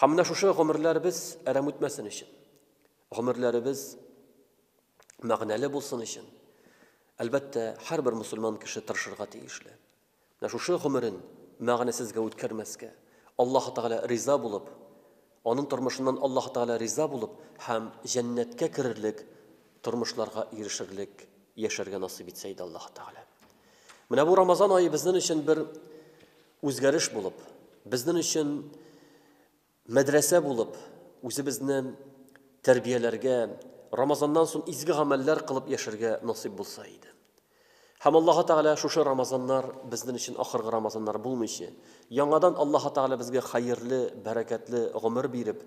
Һәм менә шушы гомерләребез әрәм үтмәсен өчен, гомерләребез мәгънәле булсын өчен, әлбәттә, һәрбер мусульман кеше тырышырга тиешле. Менә шушы гомерен мәгънәсезгә үткәрмәскә, Аллаһ Тәгалә риза булып, аның тормышыннан Аллаһ Тәгалә риза булып һәм җәннәткә керерлек тормышларга ирешерлек яшәргә насыйп итсә иде Аллаһ Тәгалә. Менә бу Рамазан ае безнең өчен бер Үзгәреш булып, безнен өчен мәдрәсә булып, үзебезне тәрбияләргә, Рамазаннан сон изге гамәлләр кылып яшәргә насыйп булса иде. Һәм Аллаһы Тәгалә шушы Рамазаннар безнен өчен ахыргы Рамазаннар булмыйчы, яңадан Аллаһы Тәгалә безгә хәерле, бәрәкәтле гомер биреп,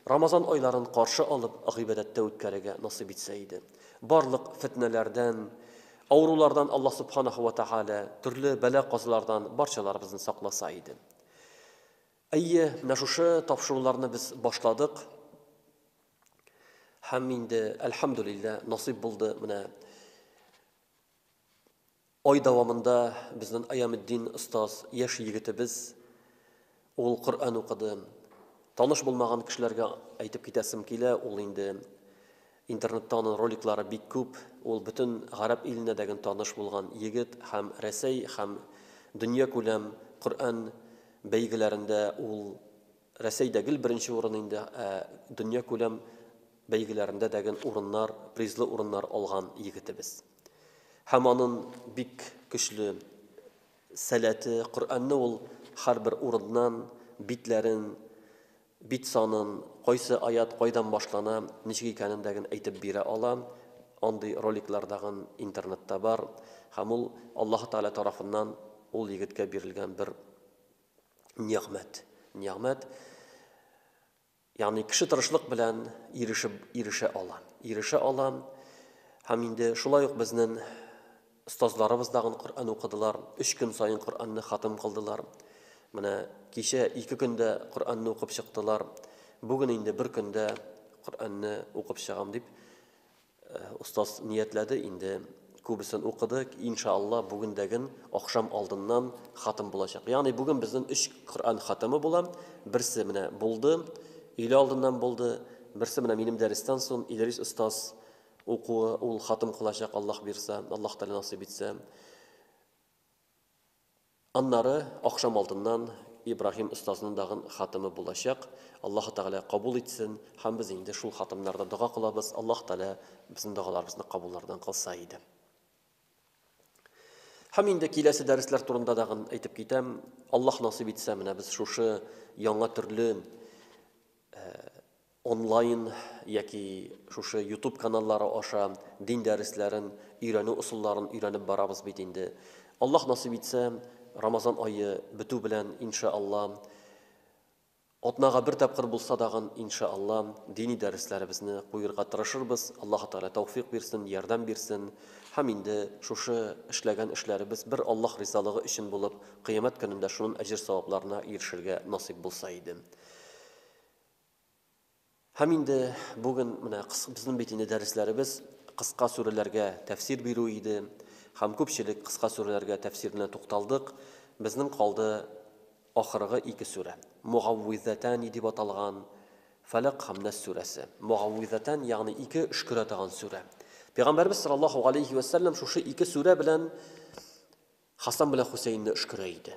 Рамазан айларын каршы алып, гыйбадәттә үткәрергә насыйп итсә иде. Барлык фетнәләрдән, Авырулардан Аллаһ Субханаһу вә Тәгалә, төрле бәла-казалардан барчаларыбызны сакласа иде. Әйе, менә шушы тапшыруларны без башладык. Һәм инде, әлхәмдүлиллә, насыйп булды, менә ай дәвамында безнең Аямеддин остаз, яшь егетебез, Ул Коръән укыды. Таныш булмаган кешеләргә әйтеп китәсем килә, ул инде интернетта аның роликлары бик күп. Ул бөтен гарәп иленә дә гөн таныш булган егет һәм Рәсәй һәм дөнья күләм Коръән бәйгеләрендә ул Рәсәйдә гел беренче урын инде, ә дөнья күләм бәйгеләрендә дә гөн урыннар, призлы урыннар алган егетебез. Һәм анын бик көчле Сәләте, Коръәнне ул һәрбер урыннан, битләрен, бит санын, кайсы аят кайдан башлана, ничек икәнен дә ген әйтеп бирә ала. Андый роликлар да ген интернетта бар. Һәм ул Аллаһы Тәгалә тарафыннан ул егеткә бирелгән бер нигъмәт. Нигъмәт. Ягъни кеше тырышлык белән ирешеп ирешә ала. Ирешә ала. Һәм инде шулай ук безнен остазларыбыз дагын Коръән укыдылар. Өч көн саен Коръәнне хатым кылдылар. Менә кичә ике көндә Коръәнне укып чыктылар. Бүген инде бер көндә Коръәнне укып чыгам дип Остаз ниятләде инде, күбесен укыды, инша Аллаһ бүгендәген ахшам алдыннан хатым булачак. Ягъни бүген безнең 3 Коръән хатымы була. Берсе менә булды, өйлә алдыннан булды. Берсе менә минем дәрестән соң Идрис остаз укуы, ул хатым кылачак Аллаһ бирса, Аллаһ Тәгалә насыйп итсә. Аннары ахшам алдыннан Ибраһим остазның дагын хатымы булачак. Аллаһы Тәгалә кабул итсен. Һәм без инде шул хатымнарда дога кылабыз. Аллаһы Тәгалә безнең догаларыбызны кабуллардан кылса иде. Һәм инде киләсе дәресләр турында дагын әйтеп китәм. Аллаһ насыйп итсә, менә без шушы яңа төрле Онлайн яки шушы ютуб каналлары аша дин дәресләрен, өйрәнү ысулларын өйрәнеп барабыз бит инде. Аллаһ насыйп итсә, Рамазан ае бетү белән, инша Алла, атнага бер тапкыр булса дагын, инша Алла, дини дәресләребезне куерга тырышырбыз. Аллаһы Тәгалә тәүфыйк бирсен, ярдәм бирсен. Һәм инде шушы эшләгән эшләребез бер Аллаһ ризалыгы өчен булып, кыямәт көнендә шунын әҗер-савапларына ирешергә насыйп булса иде. Һәм инде бүген менә безнең бит инде дәресләребез кыска сүрәләргә тәфсир бирү иде. Һәм күпчелек кыска сүрәләргә тәфсиренә тукталдык. Безнең калды ахыргы ике сүрә. Мугаввизатән дип аталган Фәләк һәм Нас сүрәсе. Мугаввизатән, ягъни ике өшкерә торган сүрә. Пәйгамбәрбез саллаллаһу алейхи ва саллям шушы ике сүрә белән Хасан белән Хусейнны өшкерә иде.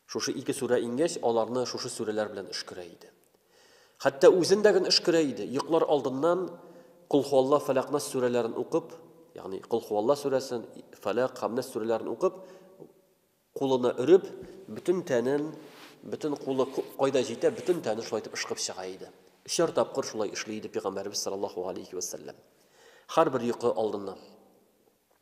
Шушы ике сүрә иңгәч, аларны шушы сүрәләр белән өшкерә иде. Хәтта үзен дә гөн өшкерә иде. Йоклар алдыннан Кул хуалла фәләкнас сүрәләрен укып, ягъни Кул хуалла сүрәсен, фәләк һәм нәс сүрәләрен укып, кулына өреп, бөтен тәнен, бөтен кулы кайда җитә, бөтен тәнен шулай итеп ышкып чыга иде. Өчәр тапкыр шулай эшли иде пәйгамбәребез саллаллаһу алейхи ва саллям. Һәрбер йокы алдыннан.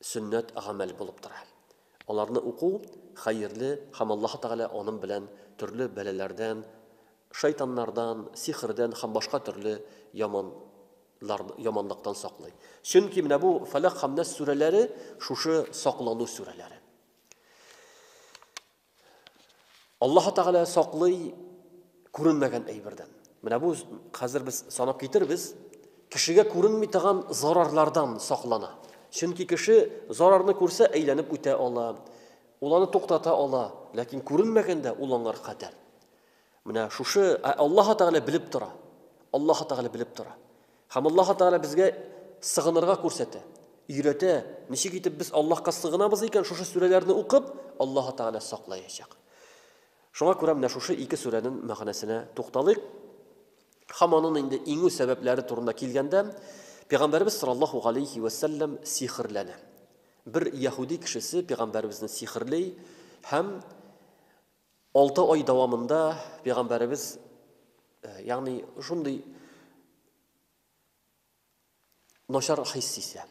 сөннәт гамәл булып тора. Аларны уку хәерле һәм Аллаһы Тәгалә анын белән төрле бәлаләрдән, шайтаннардан, сихердән һәм башка төрле яман лар яманлыктан саклый. Чөнки менә бу Фәләк һәм Нәс сүрәләре шушы саклану сүрәләре. Аллаһу Тәгалә саклый күренмәгән әйбердән. Менә бу хәзер без санап китербез, кешегә күренми торган зарарлардан саклана. Чөнки кеше зарарны күрсә, әйләнеп үтә ала, ул аны туктата ала, ләкин күренмәгәндә ул аңар хәтәр. Менә шушы ә Аллаһы Тәгалә белеп тора. Аллаһы Тәгалә белеп тора. Һәм Аллаһы Тәгалә безгә сыгынырга күрсәтә, өйрәтә. Ничек итеп без Аллаһка сыгынабыз икән, шушы сүрәләрне укып, Аллаһы Тәгалә саклаячак. Шуңа күрә менә шушы ике сүрәнең мәгънәсенә тукталыйк. Һәм аның инде иңү сәбәпләре турында килгәндә, Пәйгамбәребез саллаллаһу галәйһи вә сәлләм сихерләнә. Бер яһүди кешесе Пәйгамбәребезне сихерли һәм Алты ай дәвамында пәйгамбәребез ягъни шундый начар хис исә.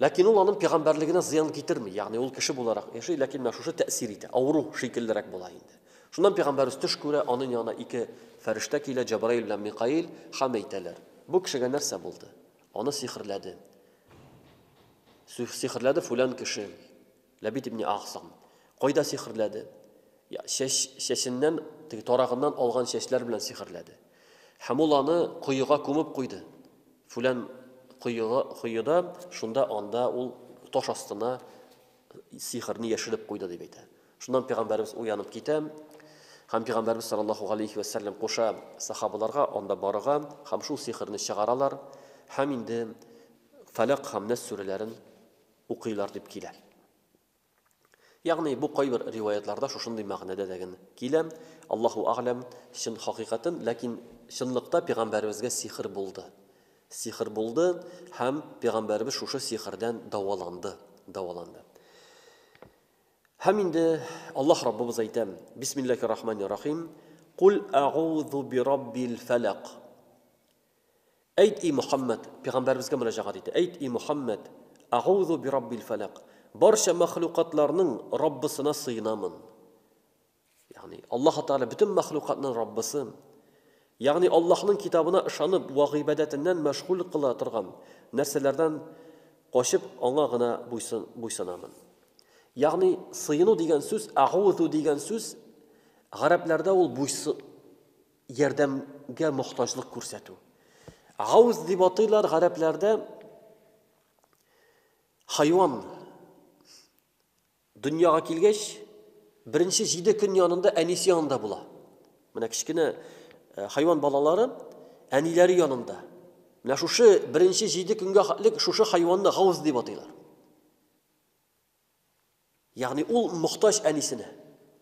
Ләкин ул аның пәйгамбәрлегенә зыян китерми, ягъни ул кеше буларак яши, ләкин менә шушы тәэсир итә, авыру шикеллерәк була инде. Шуннан пәйгамбәрбез төш күрә, аның янына ике фәрештә килә, Җабраил белән Микаил, һәм әйтәләр: "Бу кешегә нәрсә булды? Аны сихерләде. Сихерләде фулан кеше. Ләбит ибне Гәгсам кайда сихерләде? Я, чәч, чәченнән, теге тарагыннан алган чәчләр белән сихерләде. Һәм ул аны коега күмеп куйды. Фүлән коега, коеда, шунда анда ул таш астына сихерне яшереп куйды дип әйтә. Шуннан пәйгамбәрбез уянып китә. Һәм пәйгамбәрбез саллаллаху галәйһи ва саллям куша сахабаларга анда барырга һәм шул сихерне чыгаралар. Һәм инде Фәләк һәм Нәс сүрәләрен укыйлар дип килә. Ягъни бу кайбер риваятьларда шушындый мәгънәдә дәген килә. Аллаһу а'лам, чын хакыйкатен, ләкин чынлыкта пигамбәребезгә сихер булды. Сихер булды һәм пигамбәребез шушы сихердән дәваланды, дәваланды. Һәм инде Аллаһ Раббыбыз әйтә, Бисмиллахи рахмани рахим, Кул а'узу би раббил фәләк. Әйт, и Мөхәммәд, пигамбәребезгә мөрәҗәгать итә, әйт, и Мөхәммәд, Агузу бираббил-фәләк, барча мәхлукатларның Раббысына сыенамын. Ягъни, Аллаһы Тәгалә бөтен мәхлукатның Раббысы. Ягъни, Аллаһның китабына ышанып вә гыйбадәтеннән мәшгуль кыла торган нәрсәләрдән качып, аңа гына буйсын, буйсынамын. Ягъни, сыену дигән сүз, агузу дигән сүз, гарәпләрдә ул буйсы, ярдәмгә мохтаҗлык күрсәтү. Гауз дип атыйлар гарәпләрдә хайван дөньяга килгәч, беренче җиде көн янында әнисе янында була. Менә кечкенә э, хайван балалары әниләре янында. Менә шушы беренче җиде көнгә хәтлек шушы хайванны гауз дип атыйлар. Ягъни ул мохтаҗ әнисенә.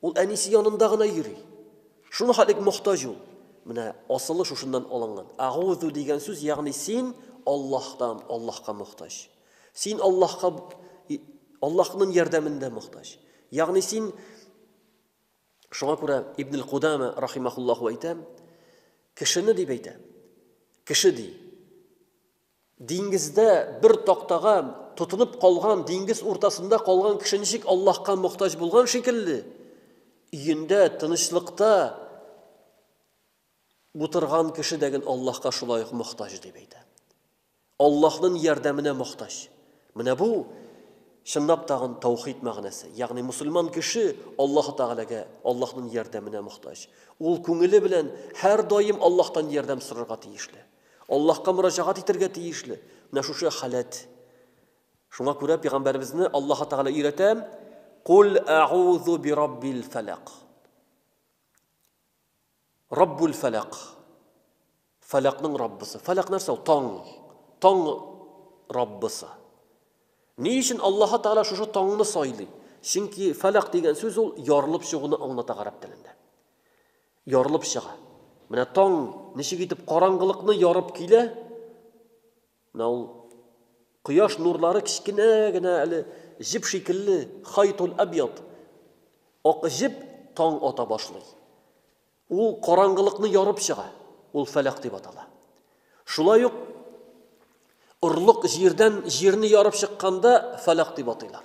Ул әнисе янында гына йөри. Шуны халик мохтаҗ ул. Менә асылы шушыннан алынган. Агузу дигән сүз, ягъни син Аллаһтан, Аллаһка мохтаҗ. Син Аллаһка Аллаһның ярдәмендә мохтаҗ. Ягъни син Шуңа күрә Ибн аль-Кудама рахимахуллаху әйтә, кешене дип әйтә. Кеше ди. Диңгездә бер тактага тотынып калган, диңгез уртасында калган кеше ничек Аллаһка мохтаҗ булган шикелле, өендә тынычлыкта утырган кеше дә гел Аллаһка шулай ук мохтаҗ, дип әйтә. Аллаһның ярдәменә мохтаҗ. Менә бу чынлап тагын таухид мәгънәсе. Ягъни мусульман кеше Аллаһ Тәгаләгә, Аллаһның ярдәменә мохтаҗ. Ул күңеле белән һәрдаим Аллаһтан ярдәм сорарга тиешле. Аллаһка мөрәҗәгать итәргә тиешле менә шушы халәт. Шуңа күрә пәйгамбәребезне Аллаһ Тәгалә өйрәтә, Кул әгузу би раббил фәләк. Раббул фәләк. Фәләкнең раббысы. Фәләк нәрсә ул? Таң. Таң раббысы. Ни өчен Аллаһ Тәгалә шушы таңны сайлый? Чөнки фәләк дигән сүз ул ярылып чыгуны аңлата гарәп телендә. Ярылып чыга. Менә таң ничек итеп караңгылыкны ярып килә, менә ул кояш нурлары кечкенә генә әле җеп шикелле, хайтул әбьят, ак җеп таң ата башлый. Ул караңгылыкны ярып чыга, ул фәләк дип атала. Шулай ук орлык җирдән җирне ярып чыкканда фәләк дип атыйлар.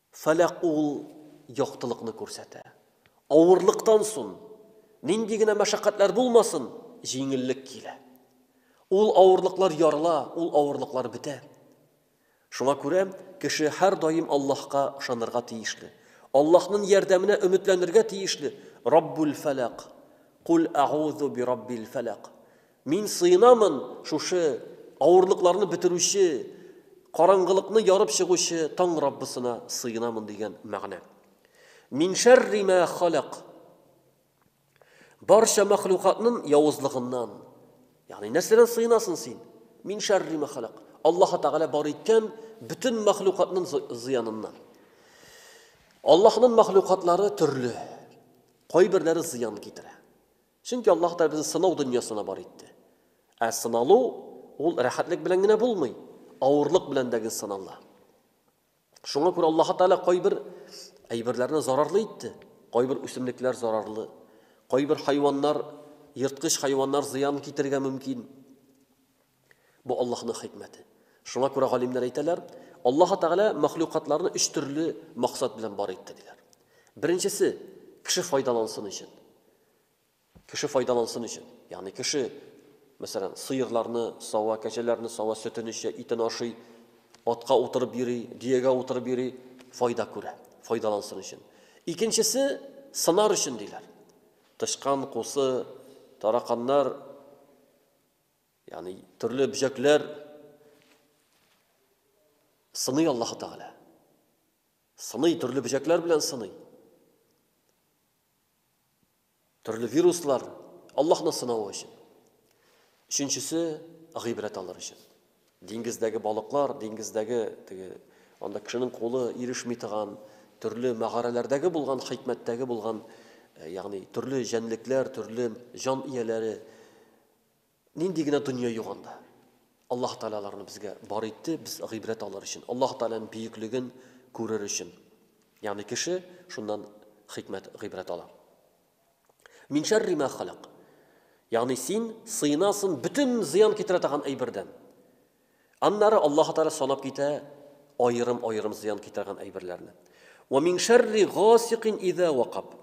Фәләк ул яктылыкны күрсәтә. Авырлыктан сон, нинди генә мәшәкатьләр булмасын, җиңеллек килә. Ул авырлыклар ярыла, ул авырлыклар бетә. Шуңа күрә кеше һәрдаим Аллаһка ышанырга тиешле, Аллаһнын ярдәменә өметләнергә тиешле, Раббул-фәләк, Куль әгузу бираббил-фәләк, Мин сыенамын шушы авырлыкларны бетерүче, караңгылыкны ярып чыгучы Таң Раббысына сыенамын дигән мәгънә. Мин шәрри мә халак. Барча мәхлукатның явызлыгыннан. Ягъни нәрсәдән сыенасын син? Мин шәрри мә халак. Аллаһ Тәгалә бар иткән бөтен мәхлукатның зыяныннан. Аллаһның мәхлукатлары төрле. Кайберләре зыян китерә. Чөнки Аллаһ Тәгалә безне сынау дөньясына бар итте. Ә сыналу ул рәхәтлек белән генә булмый, авырлык белән дә генә сынала. Шуңа күрә Аллаһ Тәгалә кайбер әйберләрне зарарлы итте, кайбер үсемлекләр зарарлы, кайбер хайваннар, ерткыч хайваннар зыян китерергә мөмкин. Бу Аллаһның хикмәте. Шуңа күрә галимнәр әйтәләр, Аллаһы Тәгалә мәхлукатларны өч төрле максат белән бар итте, диләр. Беренчесе, кеше файдалансын өчен. Кеше файдалансын өчен. Ягъни кеше, мәсәлән, сыерларны сава, кәҗәләрне сава, сөтен эчә, итен ашый, атка утырып йөри, дөягә утырып йөри, файда күрә, файдалансын өчен. Икенчесе, сынар өчен, диләр. Тычкан, кусы, тараканнар, Ягъни төрле бөҗәкләр сыный Аллаһу Тәгалә. Сыный төрле бөҗәкләр белән сыный. Төрле вируслар Аллаһны сынау өчен. Өченчесе гыйбрәт алыр өчен. Диңгездәге балыклар, диңгездәге теге анда кешенең кулы ирешми торган төрле мәгарәләрдәге булган хикмәттәге булган, э, ягъни төрле җәнлекләр, төрле җан ияләре Нинди генә дөнья юк анда. Аллаһ Тәгалә аларны безгә бар итте, без гыйбрәт алыр өчен, Аллаһ Тәгаләнең бөеклеген күрер өчен. Ягъни кеше шуннан хикмәт, гыйбрәт ала. Мин шәрри ма халак. Ягъни син сыйнасын бөтен зыян китерә торган әйбердән. Аннары Аллаһ Тәгалә санап китә аерым-аерым зыян китергән әйберләрне. Ва мин шәрри гасикин иза вакаб.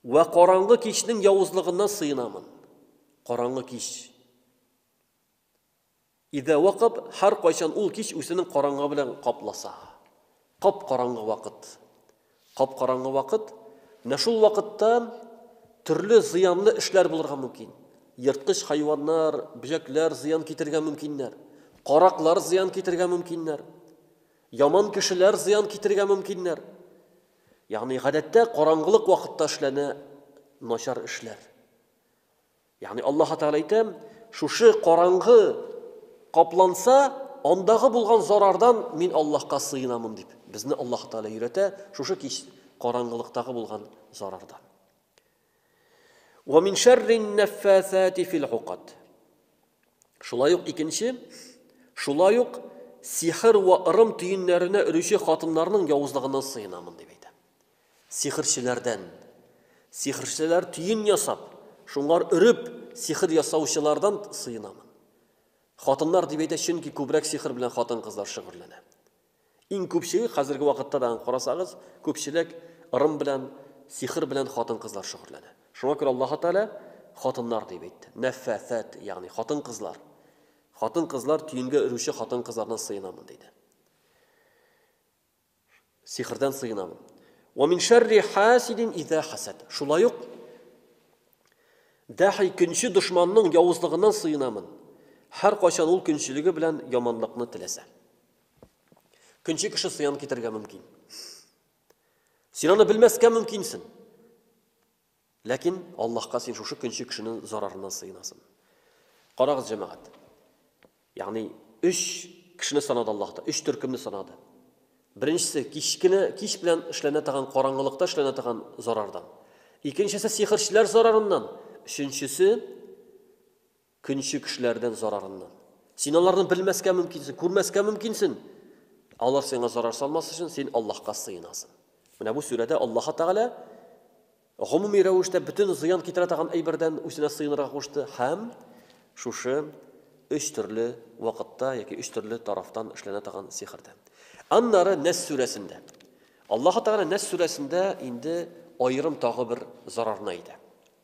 Вә караңгы кичнең явызлыгыннан сыенамын. Караңгы кич. Изә вакып, һәркайчан ул кич үзенең караңгы белән капласа. Кап-караңгы вакыт. Кап-караңгы вакыт, менә шул вакытта төрле зыянлы эшләр булырга мөмкин. Ерткыч хайваннар, бөҗәкләр зыян китергә мөмкиннәр. Караклар зыян китергә мөмкиннәр. Яман кешеләр зыян китергә мөмкиннәр. Ягъни гадәттә караңгылык вакытта эшләнә начар эшләр. Ягъни Аллаһ Тәгалә әйтә, шушы караңгы капланса, андагы булган зарардан мин Аллаһка сыенамын дип. Безне Аллаһ Тәгалә өйрәтә шушы кич караңгылыктагы булган зарардан. Ва мин шәррин нәффәсәти фил гукат. Шулай ук икенче, шулай ук сихер ва ырым төеннәренә өрүче хатыннарның явызлыгыннан сыенамын дип әйтә. Сихерчеләрдән. Сихерчеләр төен ясап, шуңар өреп, сихер ясаучылардан сыенамын. Хатыннар дип әйтә, чөнки күбрәк сихер белән хатын-кызлар шөгыльләнә. Иң күпчеге, хәзерге вакытта да аны карасагыз, күпчелек ырым белән, сихер белән хатын-кызлар шөгырьләнә. Шуңа күрә Аллаһы Тәгалә хатыннар дип әйтте. Нәффәсәт, ягъни хатын-кызлар. Хатын-кызлар, төенгә өрүче хатын-кызлардан сыенамын, диде. Сихердән сыенамын. Ва мин шәрри хасидин иза хасад. Шулай ук дәхи көнче дошманның явызлыгыннан сыенамын. Һәркайчан ул көнчелеге белән яманлыкны теләсә. Көнче кеше сыян китергә мөмкин. Син аны белмәскә мөмкинсең. Ләкин Аллаһка син шушы көнче кешенең зарарыннан сыенасың. Карагыз, җәмәгать. Ягъни 3 кешене санады Аллаһ та, 3 төркемне санады. Беренчесе кичкене кич белән эшләнә торган караңгылыкта эшләнә торган зарардан. Икенчесе сихерчеләр зарарыннан, өченчесе Көнче кешеләрдән зарарыннан. Син аларны белмәскә мөмкинсең, күрмәскә мөмкинсен. Алар сиңа зарар салмас өчен син Аллаһка сыенасың. Менә бу сүрәдә Аллаһы Тәгалә гомуми рәвештә бөтен зыян китерә торган әйбердән үзенә сыенырга кушты һәм шушы өч төрле вакытта яки өч төрле тарафтан эшләнә торган сихердән. Аннары Нәс сүрәсендә. Аллаһы Тәгалә Нәс сүрәсендә инде аерым тагы бер зарарны әйтә.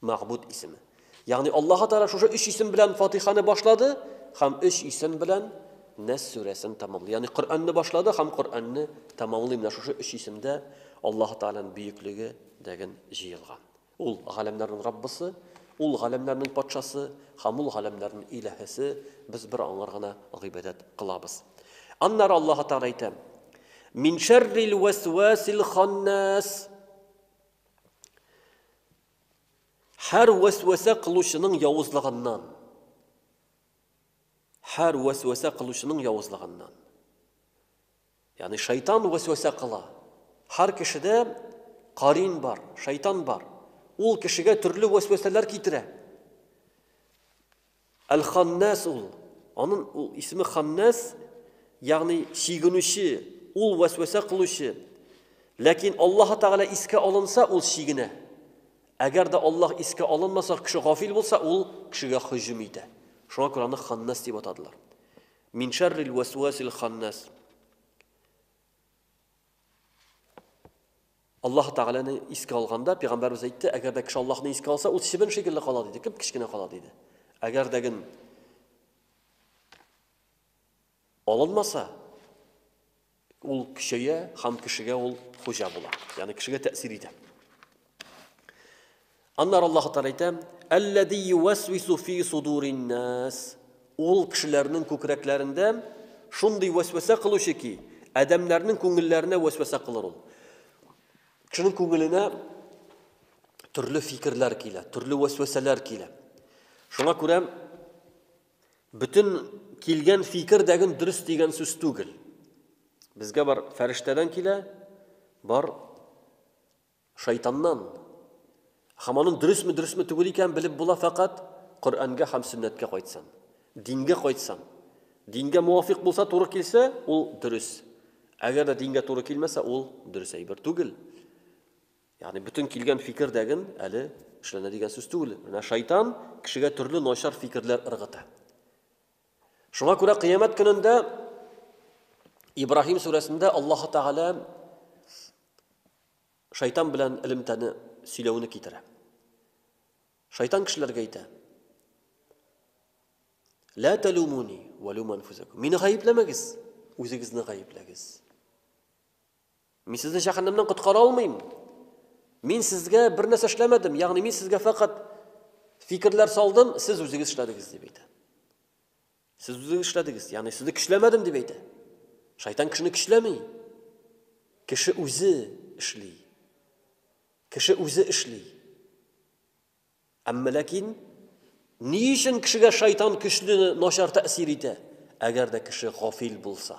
Мәгъбүд исеме. Ягъни Аллаһы Тәгалә шушы өч исем белән Фатиханы башлады һәм өч исем белән Нәс сүрәсен тәмамлый. Ягъни Коръәнне башлады һәм Коръәнне тәмамлый. Менә шушы өч исемдә Аллаһы Тәгаләнең бөеклеге дәген җыелган. Ул галәмнәрнең Раббысы, ул галәмнәрнең Патшасы һәм ул галәмнәрнең Илаһесе, без бер аңар гына гыйбадәт кылабыз. Аннары Аллаһы Тәгалә әйтә: Мин шәррил вәсвәсил ханнас. Һәр вәсвәсә кылучының явызлыгыннан. Һәр вәсвәсә кылучының явызлыгыннан. Ягъни шайтан вәсвәсә кыла. Һәр кешедә карин бар, шайтан бар. Ул кешегә төрле вәсвәсәләр китерә. Әл-Ханнәс ул, анын ул исеме Ханнәс, ягъни чигенүче, ул вәсвәсә кылучы. Ләкин Аллаһы Тәгалә искә алынса, ул чигенә. Әгәр дә Аллаһ искә алынмаса, кеше гафил булса, ул кешегә һөҗүм итә. Шуңа күрә аны Ханнәс дип атадылар. Мин шәррил вәсвәсил ханнәс. Аллаһ Тәгаләне искә алганда, пәйгамбәрбез әйтте, әгәр дә кеше Аллаһны искә алса, ул чебен шикелле кала диде, кеп кечкенә кала диде. Әгәр дә ген алынмаса, ул көчәя һәм кешегә ул хуҗа була. Ягъни кешегә тәэсир итә. Аннары Аллаһы Тәгалә әйтә, Әлләзи юәсвису фи судурин-нас. Ул кешеләрнең күкрәкләрендә шундый вәсвәсә кылучы ки, адәмнәрнең күңелләренә вәсвәсә кылыр ул. Кешенең күңеленә төрле фикерләр килә, төрле вәсвәсәләр килә. Шуңа күрә бөтен килгән фикер дәген дөрес дигән сүз түгел. Безгә бар фәрештәдән килә, бар Шайтаннан. Һәм аның дөресме, дөресме түгел икәнен белеп була фәкать Коръәнгә һәм сөннәткә кайтсаң. Дингә кайтсаң. Дингә муафикъ булса, туры килсә, ул дөрес. Әгәр дә дингә туры килмәсә, ул дөрес әйбер түгел. Ягъни бөтен килгән фикер дәген әле эшләнә дигән сүз түгел. Менә шайтан кешегә төрле начар фикерләр ыргыта. Шуңа күрә кыямәт көнендә Ибраһим сүрәсендә Аллаһ Тәгалә Шайтан белән элемтәне сөйләүне китерә. Шайтан кешеләргә әйтә. Лә тәлумуни вә лум анфузакум. Мине гаепләмәгез, үзегезне гаепләгез. Мин сезне җәһәннәмнән коткара алмыйм. Мин сезгә бер нәрсә эшләмәдем, ягъни мин сезгә фәкать фикерләр салдым, сез үзегез эшләдегез дип әйтә. Сез үзегез эшләдегез, ягъни сезне көчләмәдем дип әйтә. Шайтан кешене көчләми. Кеше үзе эшли. Кеше үзе эшли. Әмма ләкин ни өчен кешегә шайтан көчле начар тәэсир итә? Әгәр дә кеше гафил булса,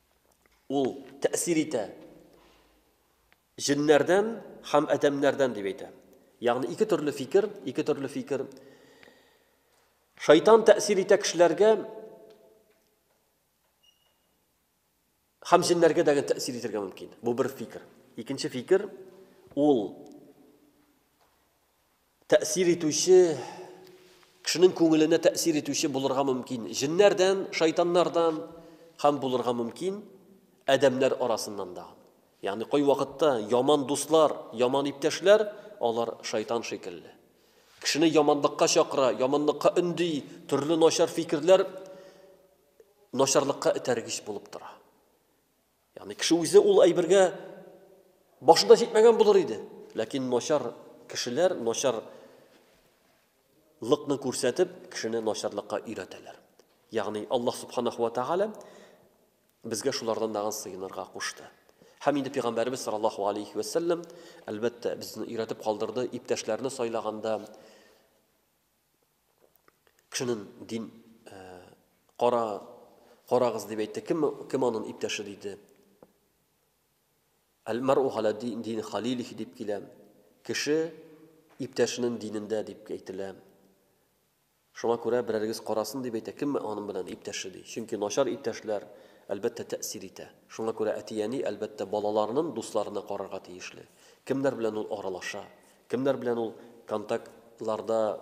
ул тәэсир итә. Җеннәрдән һәм адәмнәрдән дип әйтә. Ягъни ике төрле фикер, ике төрле фикер. Шайтан тәэсир итә кешеләргә һәм җеннәргә дә тәэсир итәргә мөмкин. Бу бер фикер. Икенче фикер ул Тәэсир итүче, кешенең күңеленә тәэсир итүче булырга мөмкин җеннәрдән, шайтаннардан һәм булырга мөмкин адәмнәр арасыннан да. Ягъни кайвакытта яман дуслар, яман иптәшләр, алар шайтан шикелле. Кешене яманлыкка чакыра, яманлыкка өнди, төрле начар фикерләр начарлыкка этәргеч булып тора. Ягъни кеше үзе ул әйбергә башы да җитмәгән булыр иде. Ләкин начар кешеләр начар лыкны күрсәтеп, кешене начарлыкка өйрәтәләр. Ягъни Аллаһ субханаху ва тааля безгә шулардан дагын сыенырга кушты. Һәм инде пәйгамбәрбез саллаллаһу алейхи ва саллям әлбәттә безне өйрәтеп калдырды, иптәшләрне сайлаганда, Кешенен дин кара карагыз дип әйтте. Кем кем анын иптәше диде. Әл-мару галә дин халилих дип килә. Кеше иптәшенең динендә дип әйтелә. Шуңа күрә берәрегез карасын дип әйтә, кем аның белән иптәше ди. Чөнки начар иптәшләр әлбәттә тәэсир итә. Шуңа күрә әти-әни әлбәттә балаларының дусларына карарга тиешле. Кемнәр белән ул аралаша, Кемнәр белән ул контакт ларда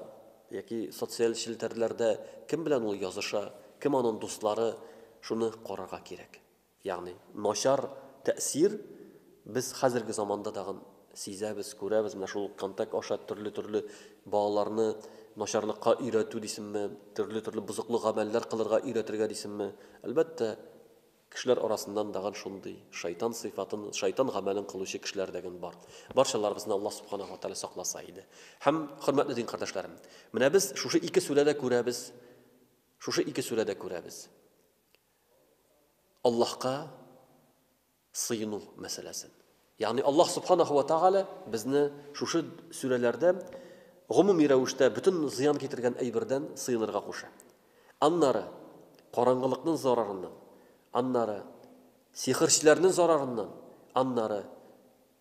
яки социаль челтәрләрдә кем белән ул языша, кем анын дуслары, шуны карарга кирәк. Ягъни начар тәэсир без хәзерге заманда тагын сизәбез, күрәбез, менә шул контакт аша төрле-төрле балаларны начарлыкка өйрәтү дисемме, төрле-төрле бозыклы гамәлләр кылырга өйрәтергә дисемме, әлбәттә, Кешеләр арасыннан дагын шундый шайтан сыйфатын, шайтан гамәлен кылучы кешеләр дәген бар. Барчаларыбызны Аллаһ Субханаһу ва Тәгалә сакласа иде. Һәм, хөрмәтле дин кардәшләрем, менә без шушы ике сүрәдә күрәбез, шушы ике сүрәдә күрәбез Аллаһка сыену мәсьәләсен. Ягъни Аллаһ Субханаһу вә Тәгалә безне шушы сүрәләрдә гомуми рәвештә бөтен зыян китергән әйбердән сыенырга куша. Аннары, караңгылыкның зарарыннан, аннары, сихерчеләрнең зарарыннан, аннары,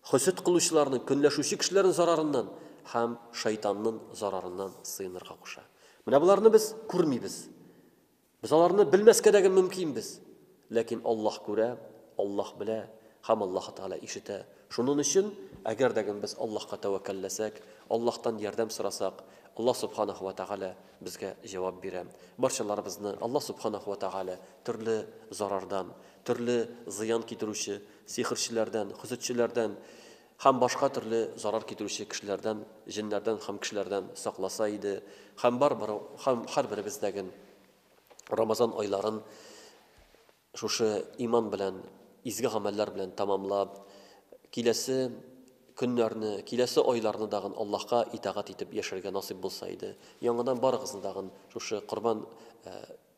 хөсед кылучыларның, көнләшүче кешеләрнең зарарыннан һәм шайтанның зарарыннан сыенырга куша. Менә боларны без күрмибез. Без аларны белмәскә дә мөмкинбез. Ләкин Аллаһ күрә, Аллаһ белә һәм Аллаһы Тәгалә ишетә. Шунын өчен, әгәр дә без Аллаһка тәвәккәлләсәк, Аллаһтан ярдәм сорасак, Аллаһ Субханаһу ва Тәгалә безгә җавап бирә. Барчаларыбызны Аллаһ Субханаһу ва Тәгалә төрле зарардан, төрле зыян китерүче сихерчеләрдән, хөсетчеләрдән, һәм башка төрле зарар китерүче кешеләрдән, җеннәрдән һәм кешеләрдән сакласа иде, һәм барыбер һәм һәрберебездәген Рамазан айларын шушы иман белән, изге гамәлләр белән тәмамлап, киләсе көннәрне, киләсе айларны дагын Аллаһка итагать итеп яшәргә насыйп булса иде. Яңадан барыгызны дагын шушы Корбан